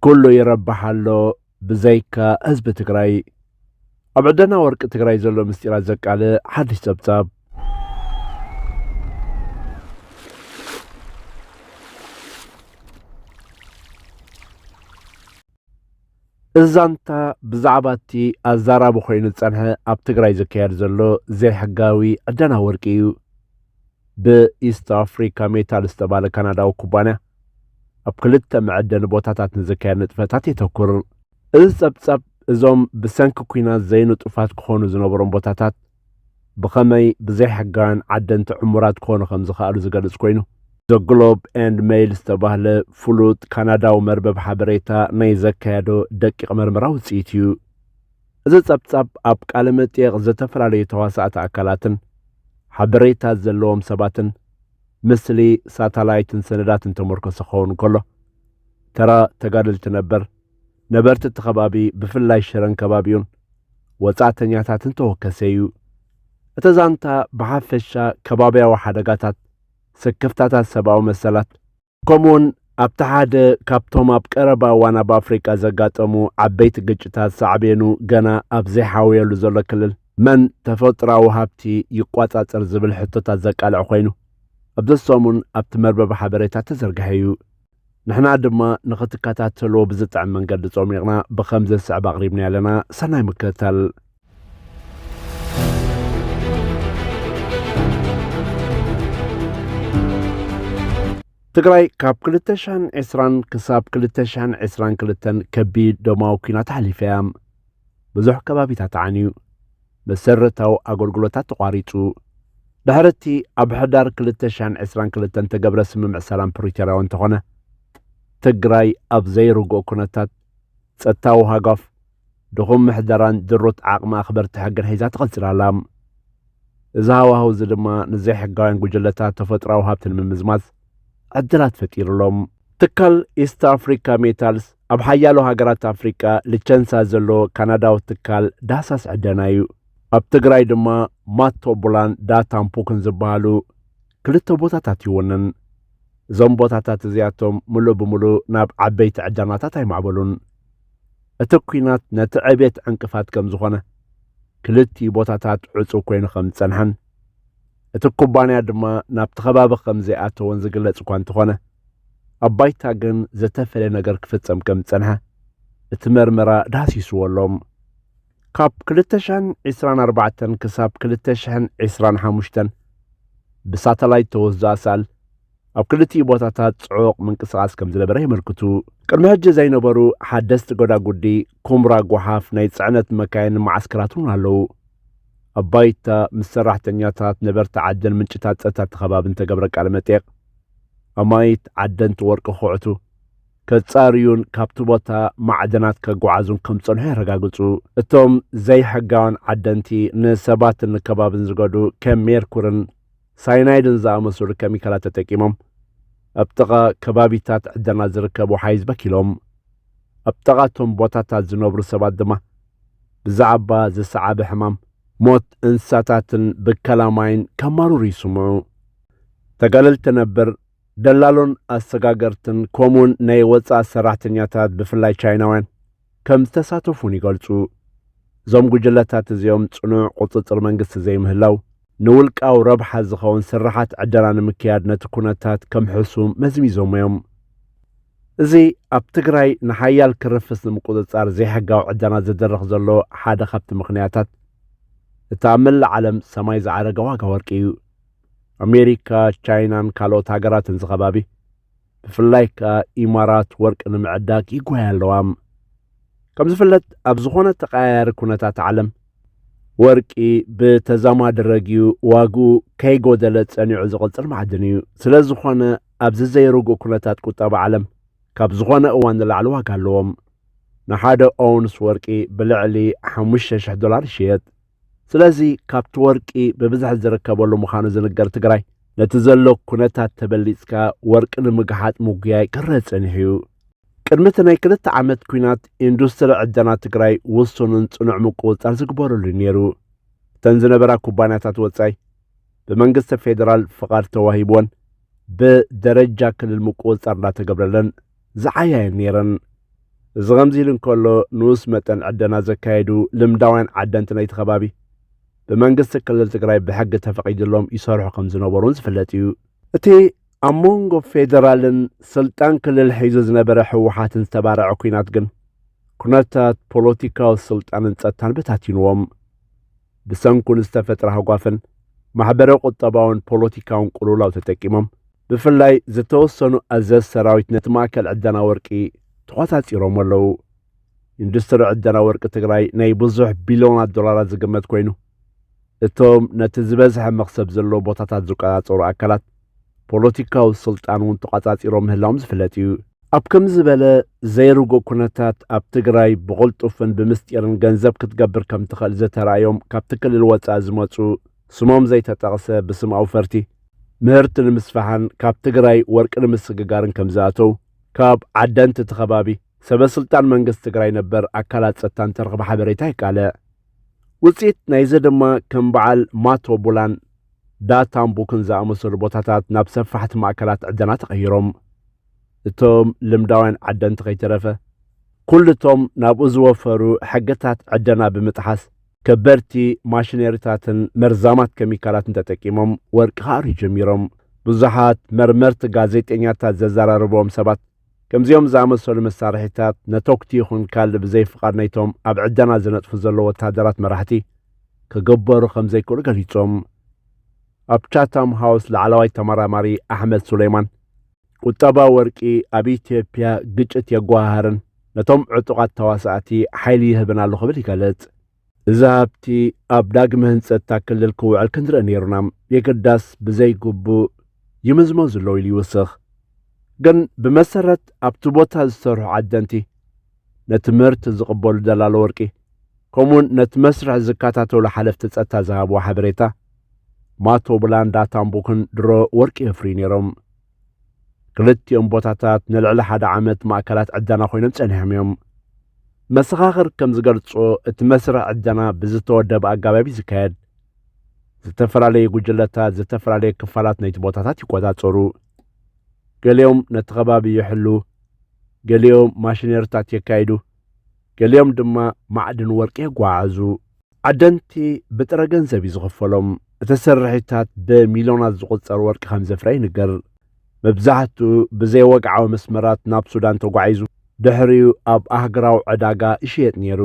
ኩሉ ይረብሕ ኣሎ ብዘይካ ህዝቢ ትግራይ። ኣብ ዕደና ወርቂ ትግራይ ዘሎ ምስጢራት ዘቃልዕ ሓድሽ ጸብጻብ። እዚ ዛንታ ብዛዕባ እቲ ኣዛራቢ ኮይኑ ዝጸንሐ ኣብ ትግራይ ዝካየድ ዘሎ ዘይሕጋዊ ዕደና ወርቂ እዩ። ብኢስት ኣፍሪካ ሜታል ዝተባለ ካናዳዊ ኩባንያ ኣብ ክልተ መዐደሊ ቦታታት ንዝካየድ ንጥፈታት የተኩር። እዚ ጸብጻብ እዞም ብሰንኪ ኲናት ዘይንጡፋት ክኾኑ ዝነበሮም ቦታታት ብኸመይ ብዘይሕጋውያን ዓደንቲ ዕሙራት ክኾኑ ከም ዝኸኣሉ ዝገልጽ ኮይኑ፣ The Globe and Mail ዝተባህለ ፍሉጥ ካናዳዊ መርበብ ሓበሬታ ናይ ዘካየዶ ደቂቕ መርመራ ውጽኢት እዩ። እዚ ጸብጻብ ኣብ ቃለ መጠየቕ ዝተፈላለዩ ተዋሳእቲ ኣካላትን ሓበሬታ ዘለዎም ሰባትን ምስሊ ሳታላይትን ሰነዳትን ተመርኮሰ ክኸውን እንከሎ፣ ተራ ተጋደልቲ ነበር፣ ነበርቲ እቲ ከባቢ ብፍላይ ሽረን ከባቢኡን፣ ወጻእተኛታትን ተወከሰ እዩ። እቲ ዛንታ ብሓፈሻ ከባብያዊ ሓደጋታት፣ ስክፍታታት ሰብኣዊ መሰላት፣ ከምኡውን ኣብቲ ሓደ ካብቶም ኣብ ቀረባ እዋን ኣብ ኣፍሪቃ ዘጋጠሙ ዓበይቲ ግጭታት ሳዕቤኑ ገና ኣብ ዘይሓወየሉ ዘሎ ክልል መን ተፈጥራዊ ሃብቲ ይቋጻጸር ዝብል ሕቶታት ዘቃልዕ ኮይኑ ኣብዚ ሰሙን ኣብቲ መርበብ ሓበሬታ ተዘርግሐ እዩ። ንሕና ድማ ንኽትከታተልዎ ብዝጥዕም መንገዲ ጾሚቕና ብኸምዚ ዝስዕብ ኣቕሪብና ኣለና ሰናይ ምክትታል ትግራይ ካብ 2020 ክሳብ 2022 ከቢድ ደማዊ ኩናት ሓሊፈ እያ። ብዙሕ ከባቢታት ተዓንዩ፣ መሰረታዊ ኣገልግሎታት ተቋሪጹ። ድሕሪ እቲ ኣብ ሕዳር 2022 ተገብረ ስምምዕ ሰላም ፕሪቶርያ እውን እንተኾነ ትግራይ ኣብ ዘይርግኦ ኩነታት ጸጥታዊ ሃጓፍ ድኹም ምሕደራን ድሩት ዓቕሚ ኣኽበርቲ ሕግን ሒዛ ትቕጽል ኣላ። እዚ ሃዋህው እዚ ድማ ንዘይሕጋውያን ጉጅለታት ተፈጥሮኣዊ ሃብቲ ንምምዝማዝ ዕድላት ፈጢሩ ኣሎ። ትካል ኢስት ኣፍሪካ ሜታልስ ኣብ ሓያሎ ሃገራት ኣፍሪቃ ልቸንሳ ዘለዎ ካናዳዊ ትካል ዳህሳስ ዕደና እዩ። ኣብ ትግራይ ድማ ማቶ ቡላን ዳታን ፑክን ዝበሃሉ ክልተ ቦታታት ይውንን። እዞም ቦታታት እዚኣቶም ምሉእ ብምሉእ ናብ ዓበይቲ ዕደናታት ኣይማዕበሉን። እቲ ኲናት ነቲ ዕብየት ዕንቅፋት ከም ዝኾነ፣ ክልቲኡ ቦታታት ዕጹው ኮይኑ ከም ዝጸንሐን እቲ ኩባንያ ድማ ናብቲ ከባቢ ከም ዘይኣተወን ዝግለጽ እኳ እንተኾነ፣ ኣብ ባይታ ግን ዝተፈልየ ነገር ክፍጸም ከም ዝጸንሐ እቲ መርመራ ዳህሲስዎ ኣሎ። ካብ ክልተ ሽሕን ዒስራን ኣርባዕተን ክሳብ ክልተ ሽሕን ዒስራን ሓሙሽተን ብሳተላይት ተወስዱ ኣሳእል ኣብ ክልቲኡ ቦታታት ጽዑቕ ምንቅስቓስ ከም ዝነበረ የመልክቱ። ቅድሚ ሕጂ ዘይነበሩ ሓደስቲ ጎዳጉዲ፣ ኩምራ ጎሓፍ፣ ናይ ጽዕነት መካይንን መዓስከራት እውን ኣለዉ። ኣብ ባይታ ምስ ሰራሕተኛታት ነበርቲ ዓደን ምንጭታት ጸጥታ እቲ ከባብን ተገብረ ቃለ መጠየቕ ኣማኢት ዓደንቲ ወርቂ ክኹዕቱ ከጻርዩን ካብቲ ቦታ ማዕድናት ከጓዓዙን ከም ዝጸንሑ የረጋግጹ። እቶም ዘይሕጋውያን ዓደንቲ ንሰባትን ንከባብን ዝገዱ ከም ሜርኩርን ሳይናይድን ዝኣመሰሉ ከሚካላት ተጠቂሞም ኣብ ጥቓ ከባቢታት ዕደና ዝርከብ ወሓይዝ በኪሎም። ኣብ ጥቓ እቶም ቦታታት ዝነብሩ ሰባት ድማ ብዛዕባ ዝሰዓበ ሕማም፣ ሞት እንስሳታትን ብከላ ማይን ከማርሩ ይስምዑ። ተጋደልቲ ነበር ደላሎን ኣሰጋገርትን ከምኡውን ናይ ወጻእ ሰራሕተኛታት ብፍላይ ቻይናውያን ከም ዝተሳተፉን ይገልጹ። እዞም ጉጅለታት እዚኦም ጽኑዕ ቁጽጽር መንግስቲ ዘይምህላው፣ ንውልቃዊ ረብሓ ዝኸውን ስርሓት ዕደና ንምክያድ ነቲ ኩነታት ከም ሕሱም መዝሚዞሞ እዮም። እዚ ኣብ ትግራይ ንሓያል ክርፍስ ንምቁጽጻር ዘይሕጋዊ ዕደና ዝድርኽ ዘሎ ሓደ ካብቲ ምኽንያታት እቲ ኣብ መላእ ዓለም ሰማይ ዝዓረገ ዋጋ ወርቂ እዩ። ኣሜሪካ፣ ቻይናን ካልኦት ሃገራትን ዝኸባቢ ብፍላይ ከኣ ኢማራት ወርቂ ንምዕዳግ ይጓያ ኣለዋ ከም ዝፍለጥ ኣብ ዝኾነ ተቀያያሪ ኩነታት ዓለም ወርቂ ብተዛማዲ ረግዩ ዋግኡ ከይጎደለ ጸኒዑ ዝቕጽል ማዕድን እዩ ስለ ዝኾነ ኣብዚ ዘይርጉእ ኩነታት ቁጠባ ዓለም ካብ ዝኾነ እዋን ንላዕሊ ዋጋ ኣለዎም ንሓደ ኦውንስ ወርቂ ብልዕሊ ሓሙሽተ ሽሕ ዶላር ይሽየጥ ስለዚ ካብቲ ወርቂ ብብዝሒ ዝርከበሉ ምዃኑ ዝንገር ትግራይ ነቲ ዘሎ ኩነታት ተበሊጽካ ወርቂ ንምግሓጥ ምጉያይ ክረእ ጸኒሑ እዩ። ቅድሚ እቲ ናይ ክልተ ዓመት ኩናት ኢንዱስትሪ ዕደና ትግራይ ውሱንን ጽኑዕ ምቁውጻር ዝግበረሉ እዩ ነይሩ። እተን ዝነበራ ኩባንያታት ወጻኢ ብመንግስቲ ፌዴራል ፍቓድ ተዋሂብወን ብደረጃ ክልል ምቁውጻር እንዳተገብረለን ዝዓያ'የን ነይረን። እዚ ከምዚ ኢሉ እንከሎ፣ ንኡስ መጠን ዕደና ዘካየዱ ልምዳውያን ዓደንቲ ናይቲ ከባቢ፣ ብመንግስቲ ክልል ትግራይ ብሕጊ ተፈቒዱሎም ይሰርሑ ከም ዝነበሩ'ውን ዝፍለጥ'ዩ። እቲ ኣብ መንጎ ፌደራልን ስልጣን ክልል ሒዙ ዝነበረ ህወሓትን ዝተባረዐ ኲናት ግን፣ ኩነታት ፖለቲካዊ ስልጣንን ጸጥታን በታቲኑዎም። ብሰንኩ ንዝተፈጥረ ሃጓፍን ማሕበረ ቁጠባውን ፖለቲካውን ቁሉውላው ተጠቂሞም ብፍላይ ዝተወሰኑ ኣዘዝ ሰራዊት ነቲ ማእከል ዕደና ወርቂ ተቖጻጺሮሞ ኣለዉ። ኢንዱስትሪ ዕደና ወርቂ ትግራይ ናይ ብዙሕ ቢልዮናት ዶላራት ዝግመት ኮይኑ እቶም ነቲ ዝበዝሐ መኽሰብ ዘለዎ ቦታታት ዝቆጻጸሩ ኣካላት ፖለቲካዊ ስልጣን እውን ተቛጻጺሮም ምህላዎም ዝፍለጥ እዩ። ኣብ ከምዚ ዝበለ ዘይርጉእ ኩነታት ኣብ ትግራይ ብቕልጡፍን ብምስጢርን ገንዘብ ክትገብር ከም ትኽእል ዘተራእዮም ካብቲ ክልል ወጻኢ ዝመጹ ስሞም ዘይተጠቕሰ ብስም ኣውፈርቲ ምህርቲ ንምስፋሕን ካብ ትግራይ ወርቂ ንምስግጋርን ከም ዝኣተው ካብ ዓደንት እቲ ከባቢ ሰበ ስልጣን መንግስቲ ትግራይ ነበር ኣካላት ጸጥታ እንተረኽበ ሓበሬታ የቃልዕ። ውጽኢት ናይዚ ድማ ከም በዓል ማቶ ቡላን ዳታን ቡክን ዝኣመሰሉ ቦታታት ናብ ሰፋሕቲ ማእከላት ዕደና ተቐይሮም። እቶም ልምዳውያን ዓደንቲ ከይተረፈ፣ ኩሉ እቶም ናብኡ ዝወፈሩ ሕግታት ዕደና ብምጥሓስ፣ ከበድቲ ማሽነሪታትን መርዛማት ከሚካላትን ተጠቂሞም ወርቂ ክኣርዩ ጀሚሮም። ብዙሓት መርመርቲ ጋዜጠኛታት ዘዘራረቡዎም ሰባት፣ ከምዚኦም ዝኣመሰሉ መሳርሒታት ነተጉቲ ይኹን ካልእ ብዘይ ፍቓድ ናይቶም ኣብ ዕደና ዝነጥፉ ዘለዉ ወተሃደራት መራሕቲ ክግበሩ ከም ዘይክእሉ ገሊጾም። ኣብ ቻታም ሃውስ ላዕለዋይ ተመራማሪ ኣሕመድ ሱለይማን፣ ቁጠባ ወርቂ ኣብ ኢትዮጵያ ግጭት የጓሃህርን ነቶም ዕጡቓት ተዋሳእቲ ሓይሊ ይህብን ኣሎ ክብል ይገልጽ። እዚ ሃብቲ ኣብ ዳግመ ህንፀት እታ ክልል ክውዕል ክንርኢ ነይሩና፣ የግዳስ ብዘይግቡእ ይምዝመዙ ኣለዉ ኢሉ ይውስኽ። ግን ብመሰረት ኣብቲ ቦታ ዝሰርሑ ዓደንቲ፣ ነቲ ምህርቲ ዝቕበሉ ደላሎ ወርቂ፣ ከምኡ'ውን ነቲ መስርሕ ዝከታተሉ ሓለፍቲ ጸጥታ ዝሃብዎ ሓበሬታ፣ ማቶብላን ዳታምቡክን ድሮ ወርቂ የፍርዩ ነይሮም። ክልቲኦም ቦታታት ንልዕሊ ሓደ ዓመት ማእከላት ዕደና ኮይኖም ጸኒሖም እዮም። መሰኻኽር ከም ዝገልጾ እቲ መስርሕ ዕደና ብዝተወደበ ኣጋባብ እዩ ዝካየድ። ዝተፈላለዩ ጉጅለታት ዝተፈላለዩ ክፋላት ናይቲ ቦታታት ይቆጻጸሩ። ገሊኦም ነቲ ከባቢ ይሕሉ፣ ገሊኦም ማሽነሪታት የካይዱ፣ ገሊኦም ድማ ማዕድን ወርቂ የጓዓዕዙ። ዓደንቲ ብጥረ ገንዘብ እዩ ዝኽፈሎም። እቲ ስርሒታት ብሚልዮናት ዝቑጸር ወርቂ ከም ዘፍረ ይንገር። መብዛሕትኡ ብዘይወግዓዊ መስመራት ናብ ሱዳን ተጓዒዙ ድሕሪኡ ኣብ ኣህግራዊ ዕዳጋ ይሽየጥ ነይሩ።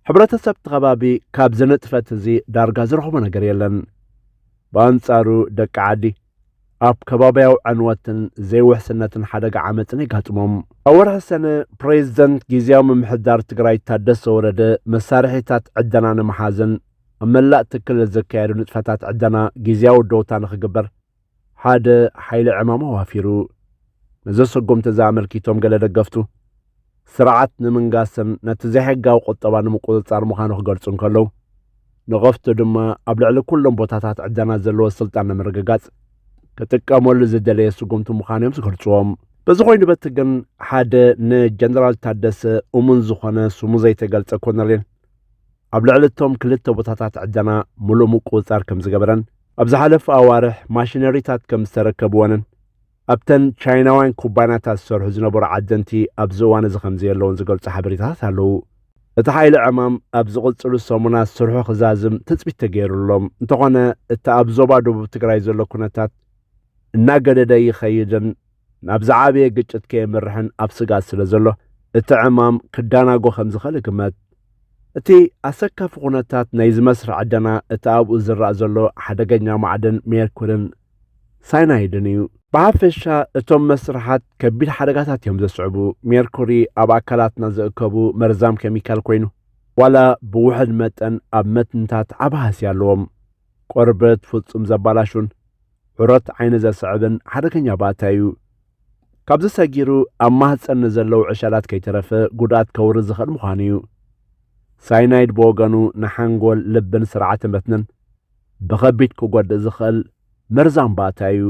ሕብረተሰብ እቲ ከባቢ ካብዚ ንጥፈት እዚ ዳርጋ ዝረኽቦ ነገር የለን። ብኣንጻሩ ደቂ ዓዲ ኣብ ከባብያዊ ዕንወትን ዘይውሕስነትን ሓደጋ ዓመፅን የጋጥሞም። ኣብ ወርሒ ሰነ ፕሬዚደንት ጊዚያዊ ምምሕዳር ትግራይ ታደሰ ወረደ መሳርሒታት ዕደና ንምሓዝን ኣብ መላእ እቲ ክልል ዝካየዱ ንጥፈታት ዕደና ጊዚያዊ ደውታ ንክግበር ሓደ ሓይሊ ዕማም ኣዋፊሩ። ነዚ ስጉምቲ እዚ ኣመልኪቶም ገለ ደገፍቱ፣ ስርዓት ንምንጋስን ነቲ ዘይሕጋዊ ቁጠባ ንምቁጽጻር ምዃኑ ክገልጹ እንከለዉ፣ ንቐፍቱ ድማ ኣብ ልዕሊ ኩሎም ቦታታት ዕደና ዘለዎ ስልጣን ንምርግጋጽ ክጥቀመሉ ዝደለየ ስጉምቲ ምዃኑ እዮም ዝገልጽዎም። በዚ ኮይኑ በቲ ግን ሓደ ንጀነራል ታደሰ እሙን ዝኾነ ስሙ ዘይተገልጸ ኮነሬል ኣብ ልዕሊ እቶም ክልተ ቦታታት ዕደና ምሉእ ምቁጽጻር ከም ዝገበረን ኣብ ዝሓለፈ ኣዋርሕ ማሽነሪታት ከም ዝተረከብወንን ኣብተን ቻይናውያን ኩባንያታት ዝሰርሑ ዝነበሩ ዓደንቲ ኣብዚ እዋን እዚ ከምዘየለውን ዝገልጹ ሓበሬታታት ኣለዉ። እቲ ሓይሊ ዕማም ኣብ ዝቕጽሉ ሰሙናት ስርሑ ክዛዝም ትጽቢት ተገይሩሎም፣ እንተኾነ እቲ ኣብ ዞባ ደቡብ ትግራይ ዘሎ ኩነታት እናገደደ ይኸይድን ናብ ዝዓበየ ግጭት ከየምርሕን ኣብ ስግኣት ስለዘሎ እቲ ዕማም ክዳናጎ ከምዝኽእል ይግመት። እቲ ኣሰካፊ ኩነታት ናይዚ መስርሕ ዕደና እቲ ኣብኡ ዝረኣ ዘሎ ሓደገኛ ማዕድን ሜርኩሪን ሳይናይድን እዩ። ብሓፈሻ እቶም መስርሓት ከቢድ ሓደጋታት እዮም ዘስዕቡ። ሜርኩሪ ኣብ ኣካላትና ዝእከቡ መርዛም ኬሚካል ኮይኑ፣ ዋላ ብውሑድ መጠን ኣብ መትንታት ዓቢ ሃስያ ኣለዎም። ቆርበት ፍጹም ዘባላሹን ዑረት ዓይኒ ዘስዕብን ሓደገኛ ባእታ እዩ። ካብዚ ሰጊሩ ኣብ ማህፀን ንዘለዉ ዕሸላት ከይተረፈ ጉድኣት ከውርድ ዝኽእል ምዃኑ እዩ። ሳይናይድ ብወገኑ ንሓንጎል፣ ልብን ስርዓተ መትንን ብኸቢድ ክጎድእ ዝኽእል መርዛም ባእታ እዩ።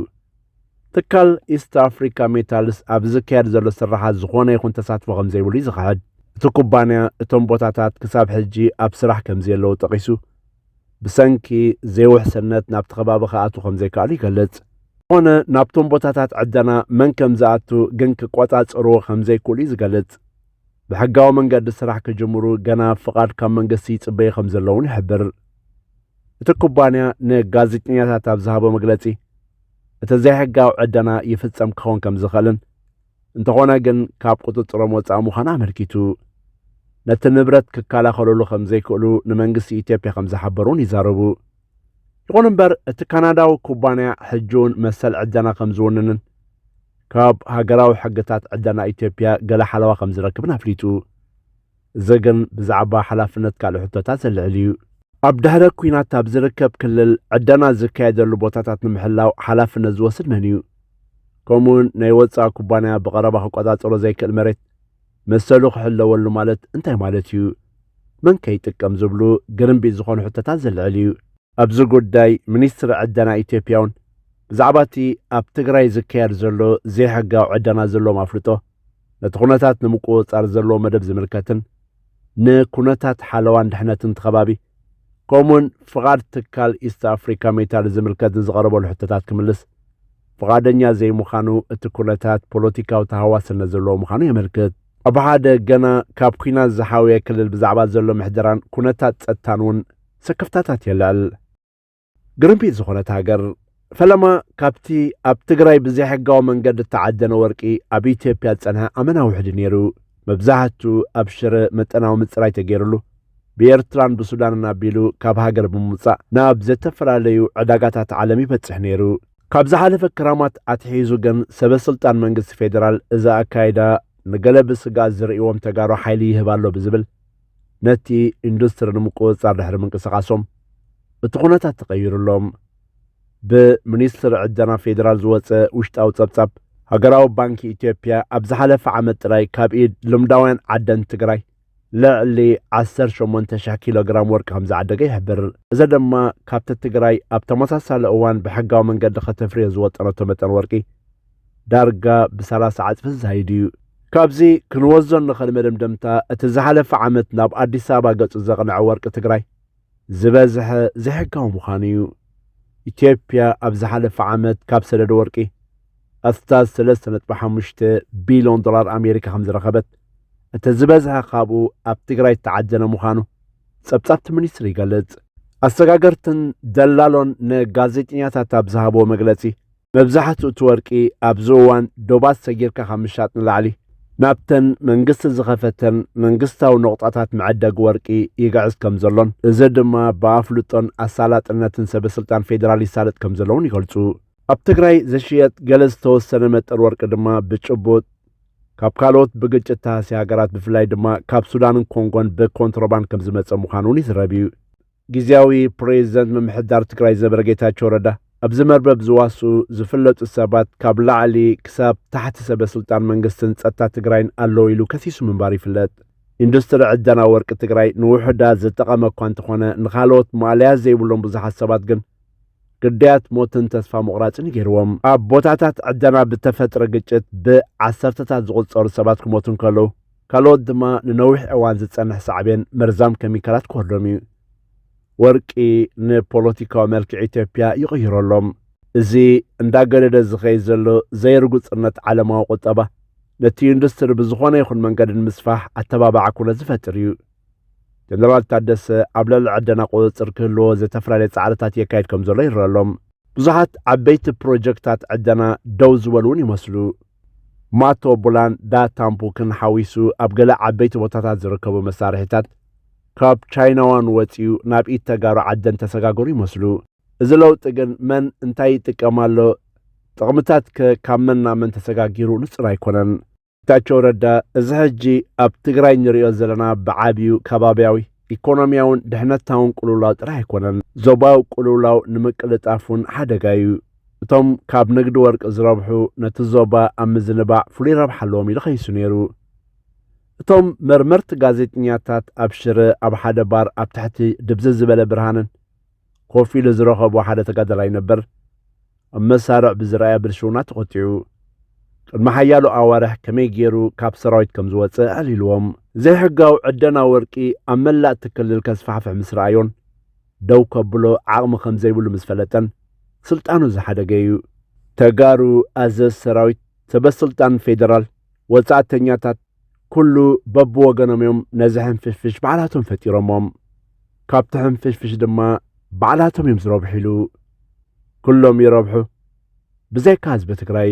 ትካል ኢስት ኣፍሪካ ሜታልስ ኣብዚ ዝካየድ ዘሎ ስርሓት ዝኾነ ይኹን ተሳትፎ ከምዘይብሉ እዩ ዝኽሕድ። እቲ ኩባንያ እቶም ቦታታት ክሳብ ሕጂ ኣብ ስራሕ ከምዘየለዉ ጠቒሱ፣ ብሰንኪ ዘይውሕስነት ናብቲ ከባቢ ክኣትዉ ከምዘይከኣሉ ይገልጽ። ዝኾነ ናብቶም ቦታታት ዕደና መን ከምዝኣቱ ግን ክቆጻጸርዎ ከምዘይክእሉ እዩ ዝገልጽ። ብሕጋዊ መንገዲ ስራሕ ክጅምሩ ገና ፍቓድ ካብ መንግስቲ ይጽበዩ ከም ዘለዉን ይሕብር። እቲ ኩባንያ ንጋዜጠኛታት ኣብ ዝሃቦ መግለጺ እቲ ዘይሕጋዊ ዕደና ይፍጸም ክኸውን ከም ዝኽእልን እንተኾነ ግን ካብ ቁጽጽሮም ወጻኢ ምዃን ኣመልኪቱ ነቲ ንብረት ክከላኸሉሉ ከም ዘይክእሉ ንመንግስቲ ኢትዮጵያ ከም ዝሓበሩ እውን ይዛረቡ። ይኹን እምበር እቲ ካናዳዊ ኩባንያ ሕጂ እውን መሰል ዕደና ከም ዝውንንን ካብ ሃገራዊ ሕግታት ዕደና ኢትዮጵያ ገለ ሓለዋ ከም ዝረክብን ኣፍሊጡ። እዚ ግን ብዛዕባ ሓላፍነት ካልእ ሕቶታት ዘልዕል እዩ። ኣብ ድሕረ ኲናት ኣብ ዝርከብ ክልል ዕደና ዝካየደሉ ቦታታት ንምሕላው ሓላፍነት ዝወስድ መን እዩ? ከምኡ'ውን ናይ ወጻኢ ኩባንያ ብቐረባ ክቆጻጸሮ ዘይክእል መሬት መሰሉ ክሕለወሉ ማለት እንታይ ማለት እዩ? መን ከ ይጥቀም ዝብሉ ግርምቢጥ ዝኾኑ ሕቶታት ዘልዕል እዩ። ኣብዚ ጉዳይ ሚኒስትሪ ዕደና ኢትዮጵያ እውን ብዛዕባ እቲ ኣብ ትግራይ ዝካየድ ዘሎ ዘይሕጋዊ ዕደና ዘለዎም ኣፍልጦ ነቲ ኩነታት ንምቁፅፃር ዘለዎ መደብ ዝምልከትን ንኩነታት ሓለዋን ድሕነትን እቲ ከባቢ ከምኡውን ፍቓድ ትካል ኢስት ኣፍሪካ ሜታል ዝምልከት ንዝቐረበሉ ሕቶታት ክምልስ ፍቓደኛ ዘይምዃኑ እቲ ኩነታት ፖለቲካዊ ተሃዋስነት ዘለዎ ምዃኑ የመልክት። ኣብ ሓደ ገና ካብ ኩናት ዝሓወየ ክልል ብዛዕባ ዘሎ ምሕደራን ኩነታት ጸጥታን እውን ስክፍታታት የልዕል። ግርምቢጥ ዝኾነት ሃገር ፈለማ ካብቲ ኣብ ትግራይ ብዘይሕጋዊ መንገዲ እተዓደነ ወርቂ ኣብ ኢትዮጵያ ዝጸንሐ ኣመና ውሕድ ነይሩ። መብዛሕትኡ ኣብ ሽረ መጠናዊ ምጽራይ ተገይሩሉ ብኤርትራን ብሱዳንን ኣቢሉ ካብ ሃገር ብምውጻእ ናብ ዘተፈላለዩ ዕዳጋታት ዓለም ይበጽሕ ነይሩ። ካብ ዝሓለፈ ክራማት ኣትሒዙ ግን ሰበ ስልጣን መንግስቲ ፌደራል እዚ ኣካይዳ ንገለ ብስግኣት ዝርእይዎም ተጋሩ ሓይሊ ይህብ ኣሎ ብዝብል ነቲ ኢንዱስትሪ ንምቁፅፃር ድሕሪ ምንቅስቓሶም እቲ ኩነታት ተቐይሩሎም ብሚኒስትሪ ዕደና ፌዴራል ዝወፀ ውሽጣዊ ፀብፃብ ሃገራዊ ባንኪ ኢትዮጵያ ኣብ ዝሓለፈ ዓመት ጥራይ ካብ ኢድ ልምዳውያን ዓደን ትግራይ ልዕሊ 18,000 ኪሎ ግራም ወርቂ ከም ዝዓደገ ይሕብር። እዚ ድማ ካብቲ ትግራይ ኣብ ተመሳሳሊ እዋን ብሕጋዊ መንገዲ ከተፍርዮ ዝወጠነቶ መጠን ወርቂ ዳርጋ ብሰላሳ ዕጽፊ ዝዛይድ እዩ። ካብዚ ክንወስዞ እንኽእል መደምደምታ እቲ ዝሓለፈ ዓመት ናብ ኣዲስ ኣበባ ገጹ ዘቕነዐ ወርቂ ትግራይ ዝበዝሐ ዘይሕጋዊ ምዃኑ እዩ። ኢትዮጵያ ኣብ ዝሓለፈ ዓመት ካብ ሰደድ ወርቂ ኣስታት ሰለስተ ነጥቢ ሓሙሽተ ቢልዮን ዶላር ኣሜሪካ ከም ዝረኸበት እቲ ዝበዝሐ ካብኡ ኣብ ትግራይ እተዓደነ ምዃኑ ጸብጻብቲ ሚኒስትሪ ይገልጽ። ኣሰጋገርትን ደላሎን ንጋዜጠኛታት ኣብ ዝሃብዎ መግለጺ መብዛሕትኡ እቲ ወርቂ ኣብዚ እዋን ዶባት ሰጊርካ ካብ ምሻጥ ንላዕሊ ናብተን መንግስቲ ዝኸፈተን መንግስታዊ ነቑጣታት መዐደጊ ወርቂ ይግዕዝ ከምዘሎን እዚ ድማ ብኣፍልጦን ኣሳላጥነትን ሰበስልጣን ፌዴራል ይሳለጥ ከምዘሎውን ይገልፁ። ኣብ ትግራይ ዝሽየጥ ገለ ዝተወሰነ መጠን ወርቂ ድማ ብጭቡጥ ካብ ካልኦት ብግጭት ተሃስያ ሃገራት ብፍላይ ድማ ካብ ሱዳንን ኮንጎን ብኮንትሮባንድ ከምዝመፀ ምዃኑ እውን ይዝረብ እዩ። ግዝያዊ ፕሬዚደንት ምምሕዳር ትግራይ ዝነበረ ጌታቸው ረዳ ኣብዚ መርበብ ዝዋስኡ ዝፍለጡ ሰባት ካብ ላዕሊ ክሳብ ታሕቲ ሰበ ስልጣን መንግስትን ፀጥታ ትግራይን ኣለዉ ኢሉ ከሲሱ ምንባሩ ይፍለጥ። ኢንዱስትሪ ዕደና ወርቂ ትግራይ ንውሑዳት ዝጠቐመ እኳ እንተኾነ ንኻልኦት ማእለያ ዘይብሎም ብዙሓት ሰባት ግን ግዳያት ሞትን ተስፋ ምቑራፅን እዩ ገይርዎም። ኣብ ቦታታት ዕደና ብተፈጥረ ግጭት ብዓሰርተታት ዝቑፀሩ ሰባት ክሞቱ እንከለዉ ካልኦት ድማ ንነዊሕ እዋን ዝጸንሕ ሳዕቤን መርዛም ከሚካላት ክወርዶም እዩ። ወርቂ ንፖለቲካዊ መልክዕ ኢትዮጵያ ይቕይሮ ኣሎ። እዚ እንዳገደደ ዝኸይድ ዘሎ ዘይርጉጽነት ዓለማዊ ቁጠባ፣ ነቲ ኢንዱስትሪ ብዝኾነ ይኹን መንገዲ ንምስፋሕ ኣተባባዒ ኩነት ዝፈጥር እዩ። ጀነራል ታደሰ ኣብ ልዕሊ ዕደና ቁጽጽር ክህልዎ ዘተፈላለየ ጻዕርታት የካይድ ከምዘሎ ይረኣ ኣሎ። ብዙሓት ዓበይቲ ፕሮጀክታት ዕደና ደው ዝበሉ እውን ይመስሉ። ማቶቡላን ዳታምፑክን ሓዊሱ ኣብ ገለ ዓበይቲ ቦታታት ዝርከቡ መሳርሒታት ካብ ቻይናዋን ወጺኡ ናብ ኢድ ተጋሩ ዓደን ተሰጋገሩ ይመስሉ። እዚ ለውጢ ግን መን እንታይ ይጥቀም ኣሎ፣ ጥቕምታት ከ ካብ መን ናብ መን ተሰጋጊሩ ንጹር ኣይኮነን። ጌታቸው ረዳ እዚ ሕጂ ኣብ ትግራይ ንሪኦ ዘለና ብዓብዩ ከባብያዊ፣ ኢኮኖሚያውን ድሕነታውን ቅልውላው ጥራሕ ኣይኮነን፣ ዞባዊ ቅልውላው ንምቅልጣፍ እውን ሓደጋ እዩ። እቶም ካብ ንግዲ ወርቂ ዝረብሑ ነቲ ዞባ ኣብ ምዝንባዕ ፍሉይ ረብሓ ኣለዎም ኢሉ ከሲሱ ነይሩ። እቶም መርመርቲ ጋዜጠኛታት ኣብ ሽረ ኣብ ሓደ ባር ኣብ ትሕቲ ድብዝዝ ዝበለ ብርሃንን ኮፍ ኢሉ ዝረኸቦ ሓደ ተጋዳላይ ነበር ኣብ መሳርዕ ብዝረኣያ ብልሽውና ተቖጢዑ ቅድሚ ሓያሎ ኣዋርሕ ከመይ ገይሩ ካብ ሰራዊት ከም ዝወፀ ኣዕሊልዎም። ዘይሕጋዊ ዕደና ወርቂ ኣብ መላእ እቲ ክልል ከስፋሕፍሕ ምስ ረኣዮን ደው ከብሎ ዓቕሚ ከምዘይብሉ ምስ ፈለጠን ስልጣኑ ዝሓደገ እዩ። ተጋሩ ኣዘዝ ሰራዊት፣ ሰበስልጣን ፌደራል፣ ወፃእተኛታት ኩሉ በብወገኖም እዮም ነዚ ሕንፍሽፍሽ ባዕላቶም ፈጢሮሞም። ካብቲ ሕንፍሽፍሽ ድማ ባዕላቶም እዮም ዝረብሕሉ። ኩሎም ይረብሑ ብዘይካ ህዝቢ ትግራይ።